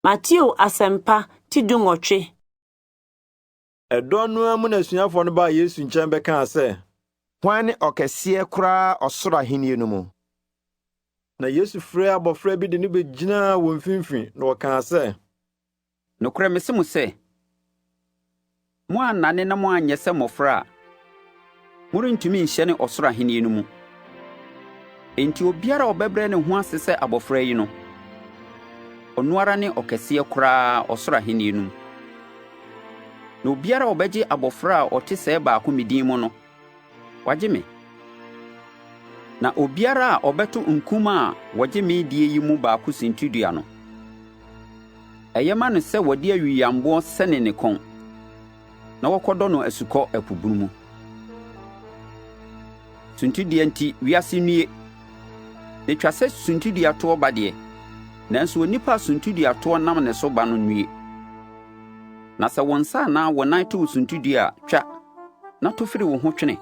Mateo Asɛmpa ti dunwɔtwe. Ɛdɔn no ara mu na asuafoɔ no baa Yesu nkyɛn bɛkaa sɛ. Hwan ne ɔkɛseɛ koraa ɔsoro ahennie no mu? Na Yesu frɛɛ abɔfra bi de no bɛgyinaa wɔn mfimfini, na ɔkaa sɛ. Nokorɛ mese mo sɛ, Moannane na moanyɛ sɛ mmofra a, morentumi nhyɛne ɔsoro Ahenni no mu. Enti obiara a ɔbɛbrɛ ne ho ase sɛ abofra yi no, ɔno ara ne ɔkɛseɛ koraa ɔsoro Ahenni no mu. Na obiara a ɔbɛgye abofra a ɔte sɛɛ baako me din mu no, Wagye me. Na obiara a ɔbɛto nkum a wɔgye me die yi mu baako sintidua no, ɛyɛ ma no sɛ wɔde awiyammoɔ sɛne ne kɔn na wɔkɔdɔ no asukɔ ɛpo bunu mu. Suntidua nti, wiase nnue. Na ɛtwa sɛ suntidua toɔ ba deɛ, nanso onipa a suntidua toɔ nam ne so ba no nnue. Na sɛ wo nsa anaa wo nan to wo suntidua a, twa. na to firi wo ho twene.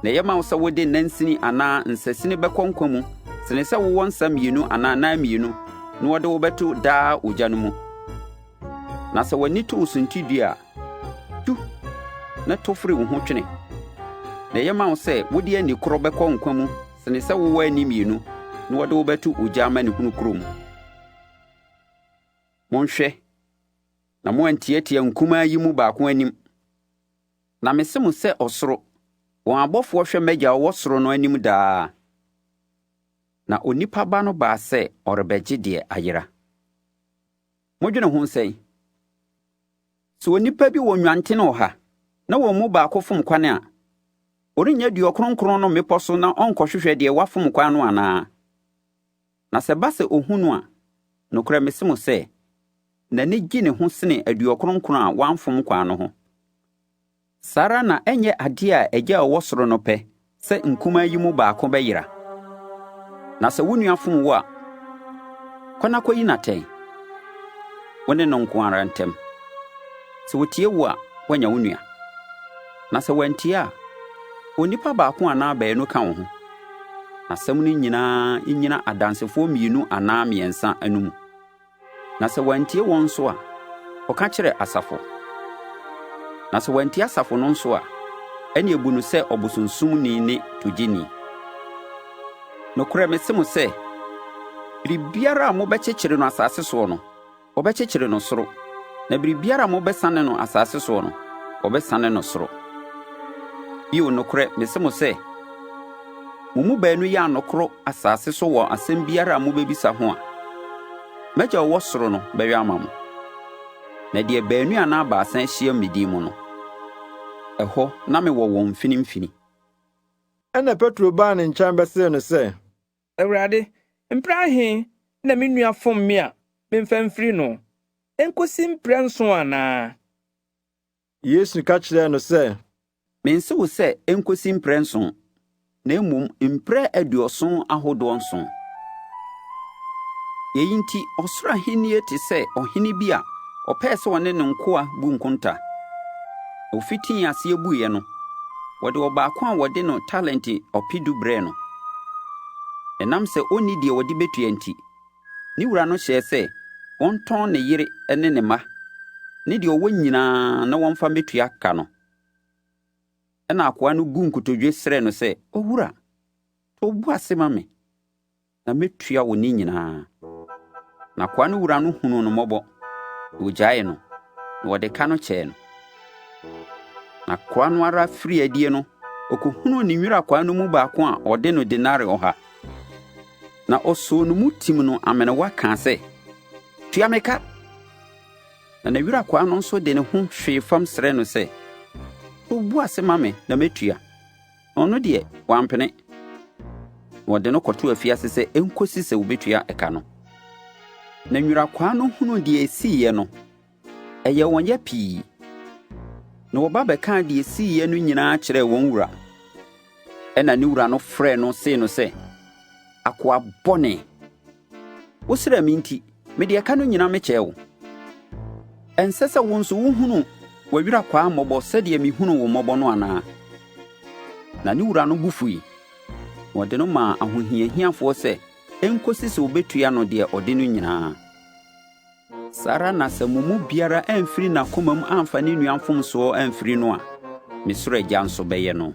Na ɛyɛ ma wo sɛ wode nansini anaa nsasini bɛkɔ nkwa mu sene sɛ wowɔ nsa mmienu anaa nan mmienu na wɔde wo bɛto daa ogya no mu. Na sɛ w'ani to wo suntidua a, tu na to firi wo ho twene. Na ɛyɛ ma wo sɛ wode ani korɔ bɛkɔ nkwa mu sene sɛ wowɔ ani mmienu na wɔde wo bɛto ogya amanehunu kuro mu. Monhwɛ! na moantiatia nkumaa yi mu baako anim. Na mese mo sɛ ɔsoro, wɔn abɔfoɔ hwɛ m'agya ɔwɔ soro no anim daa. Na onipa ba no baa sɛ ɔrebɛgye deɛ ayera. Modwene ho sɛn? Sɛ onipa bi wɔ nnwanten wɔ ha, na wɔn mu baako fom kwan a, ɔrennya duɔ kronkron no mmepɔ so na ɔnkɔhwehwɛ deɛ wafom kwan no anaa? Na sɛ ɛba sɛ ohu no a, nokorɛ mese mo sɛ, n'ani gye ne ho sene aduɔ kronkron a wɔamfom kwaa no ho. Saa ara na ɛnyɛ adeɛ a Agya a ɔwɔ soro no pɛ sɛ nkumaa yi mu baako bɛyera. Na sɛ wo nua fom wo a, kɔ na kɔyi no atɛn, wo ne no nko ara ntam. Sɛ ɔtie wo a, woanya wo nua. Na sɛ wantie a, onipa baako anaa baanu ka wo ho. n'asɛm no nyinaa nnyina adansefoɔ mmienu anaa mmiɛnsa anom. Na sɛ wantie wɔn nso a, ɔka kyerɛ asafo. Na sɛ wantie asafo no nso a, ɛne ebu no sɛ ɔbosonsomni ne togyeni. Nokorɛ mese mo sɛ, biribiara a mobɛkyekyere no asase soɔ no, wɔbɛkyekyere no soro, na biribiara a mobɛsane no asase soɔ no, wɔbɛsane no soro. Bio nokorɛ mese mo sɛ, mo mu baanu yɛ anokoro asase so wɔ asɛm biara a mobɛbisa ho a, m'agya ɔwɔ soro no bɛyɛ ama mo. Na deɛ baanu anaa baasa ahyiam me din mu no, ɛhɔ na mewɔ wɔn mfinimfini. Ɛnna Petro baa ne nkyɛn bɛsee no sɛ, Awurade, mprɛ ahe na me nua fom me a memfa mfiri no? Ɛnkosi mprɛ nson anaa? Yesu ka kyerɛɛ no sɛ. Mense wo sɛ ɛnkosi mprɛ nson, na mmom mprɛ aduɔson ahodoɔ nson. Yei nti, ɔsoro ahennie te sɛ ɔhene bi a ɔpɛɛ sɛ ɔne ne nkoa bu nkonta. Ofitii aseɛ buiɛ no, wɔde ɔbaako a wɔde no talente ɔpedu brɛɛ no. Ɛnam sɛ ɔnni deɛ ɔde bɛtua nti, ne wura no hyɛɛ sɛ wɔntɔn ne yere ne ne mma ne deɛ ɔwɔ nyinaa na wɔmfa mmɛtua ka no. Ɛnna akoa no buu nkotodwe srɛɛ no sɛ, Owura, to wo bo ase ma me. na mɛtua wo ne nyinaa. Na koa no wura no hunuu no mmɔbɔ, na ɔgyaee no, na ɔde ka no kyɛɛ no. Na koa no ara firi adie no, ɔkɔhunuu ne nwira kwaa no mu baako a ɔde no denare ɔha. Na ɔsoo no mu tim no amenewa kaa sɛ, Tua me ka! Na ne wira kwaa no nso de ne ho hwee fam srɛɛ no sɛ, Wo bo ase ma me na mɛtua. Na ɔno deɛ, wampene, na wɔde no kɔtoo afiase sɛ ɛnkɔsi sɛ wɔbɛtua ɛka no. Na nwurakwaa no hunuu deɛ ɛsiiɛ no, ɛyɛ wɔn ya pii, na wɔba bɛkaa deɛ ɛsiiɛ no nyinaa kyerɛɛ wɔn wura. Ɛna ne wura no frɛɛ no see no sɛ, ‘Akoa bɔne! Wosrɛɛ me nti, mede ɛka no nyinaa mekyɛɛ wo. Ɛnsɛ sɛ wo nso wohunu w'awuraa kwaa mmɔbɔ sɛdeɛ mehunuu wo mmɔbɔ no anaa?’ Na ne wura no bo fui, na ɔde no maa ahohiahiafoɔ sɛ ɛnkɔsi sɛ wɔbɛtua no deɛ ɔde no nyinaa. Saa ara na sɛ mo mu biara amfiri n'akomam amfa ne nua mfomsoɔ amfiri no a, me soro Agya nso bɛyɛ no.